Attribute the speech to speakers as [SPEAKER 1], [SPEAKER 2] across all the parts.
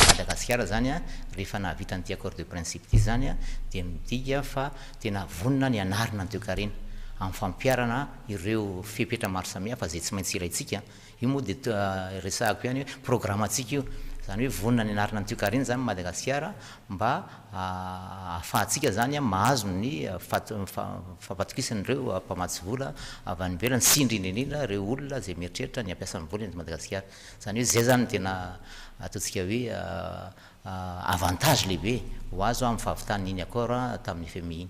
[SPEAKER 1] Madagasikara izany rehefa nahavita an'ity accord de principe ity izany dia midika fa tena vonona ny hanarina ny toekarena amin'ny fampiharana ireo fepetra maro samihafa izay tsy maintsy ilaintsika. Io moa dia resahako ihany hoe programantsika io. Izany hoe vonona ny hanarina ny toekarena izany Madagasikara mba ahafahantsika izany mahazo ny fampatokisan'ireo mpamatsy vola avy any ivelany sy indrindra indrindra ireo olona izay mieritreritra ny hampiasa ny vola eto Madagasikara. Izany hoe izay izany no tena ataontsika hoe avantage lehibe ho azo amin'ny fahavitan'iny accord tamin'ny FMI
[SPEAKER 2] iny.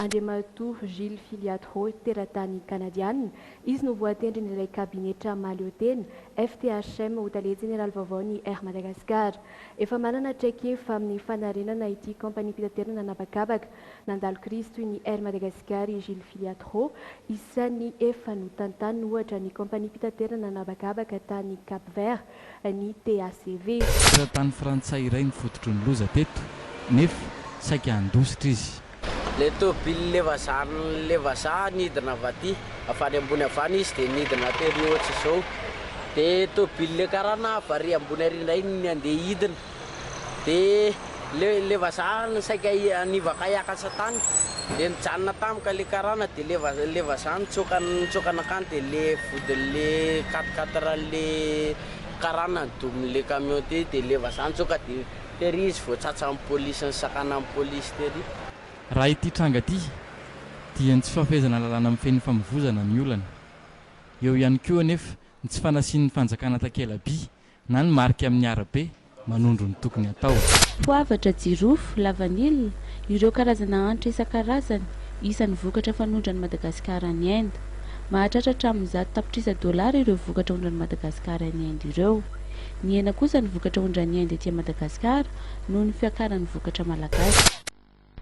[SPEAKER 3] Andriamatoa Gilles Filiatho, teratany Kanadiana. Izy no voatendrin'ilay kabinetra mahaleotena, FTHM, ho tale jeneraly vaovaon'ny Air Madagascar. Efa manana traikefa amin'ny fanarenana ity kaompaniam-pitaterana an'habakabaka nandalo krizy toy ny Air Madagascar i Gilles Filiatho. Isan'ny efa notantaniny, ohatra, ny kaompaniam-pitaterana an'habakabaka tany Cap-Vert, ny TACV. Mpizahatany frantsay
[SPEAKER 4] iray no fototry ny loza teto nefa saika handositra izy. Ilay tôbily
[SPEAKER 5] levazahan'ilay vazaha nidina avy aty, avy any ambony avy any izy dia nidina tery ohatr'izao. Dia tôbily ilay karana avy ary ambony ary indray ny andeha hidina. Dia le le vazaha no saika nivaka hiaka an-tsatany dia nijanona tampoka le karana dia le vazaha le vazaha nitsoaka nitsoaka nankany dia le vodin'le quatre quatre an'le karana nidomin'le camion teo dia le vazaha nitsoaka dia tery izy vao tsatsan'ny polisy nisakanan'ny polisy tery. Raha ity
[SPEAKER 4] tranga ity dia ny tsy fahafehezana lalàna mifehy ny famovoizana ny olana. Eo ihany koa anefa ny tsy fanasian'ny fanjakana takela-by Na ny marika amin'ny arabe, manondro ny tokony hatao. Poavatra,
[SPEAKER 3] jirofo, lavanila, ireo karazana hanitra isan-karazany, isan'ny vokatra fanondran'i Madagasikara any Inde. Mahatratra hatramin'ny zato tapitrisa dolara ireo vokatra ondran'i Madagasikara any Inde ireo. Nihena kosa ny vokatra ondran'i Inde ety Madagasikara noho ny fiakaran'ny vokatra malagasy.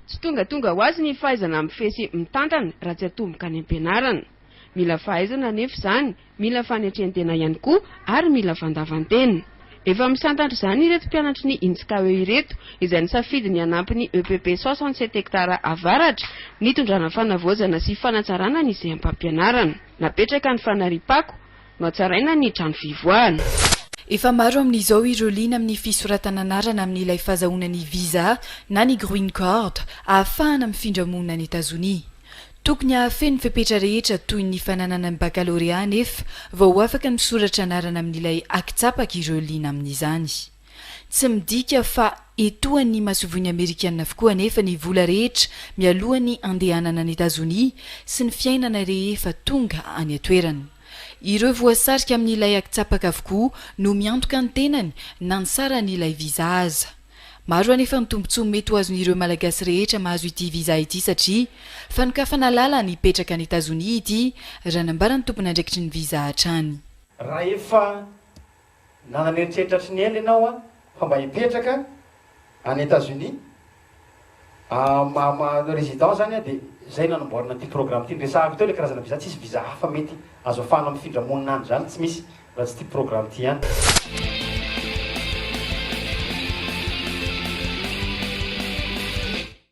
[SPEAKER 3] Tsy
[SPEAKER 6] tongatonga ho azy ny fahaizana mifehy sy mitantana raha tsy atomboka any am-pianarana. Mila fahaizana anefa izany, mila fanetrentena ihany koa ary mila fandavantena. Efa misantatra izany ireto mpianatry ny Intscaue ireto izay nisafidy ny hanampy ny EPP soixante sept hectares Avaratra nitondrana fanavaozana sy fanatsarana ny seham-pampianarana. Napetraka ny fanariam-pako. Nohatsaraina ny trano fivoahana. Efa maro
[SPEAKER 7] amin'izao ireo liana amin'ny fisoratana anarana amin'ilay fazahoana ny visa na ny grween card ahafahana mifindra monina any Etazonia. Tokony hahafehy ny fepetra rehetra toy ny fananana ny bakalorea anefa vao ho afaka misoratra anarana amin'ilay aki-tsapaka ireo liana amin'izany. Tsy midika fa etoan'ny masoivohon'ny Amerikana avokoa anefa ny vola rehetra mialohan'ny handehanana any Etazonia sy ny fiainana rehefa tonga any an-toerana. Ireo voasarika amin'ilay akitsapaka avokoa no miantoka ny tenany na ny saran'ilay visa aza. Maro anefa ny tombontsoa mety ho azon'ireo Malagasy rehetra mahazo ity visa ity satria fanokafana lalana hipetraka any Etazonia ity, raha nambaran'ny tompon'andraikitry ny visa hatrany. Rahefa
[SPEAKER 8] Na nieritreritra tsy niely ianao an, fa mba hipetraka any Etats-Unis, ma manao résidence zany an, dia zay nanamboarana ity programme ity. Niresahako teo ilay karazana visa, tsisy visa hafa mety azo afahana mifindra monina any zany, tsy misy, raha tsy ity programme ity ihany.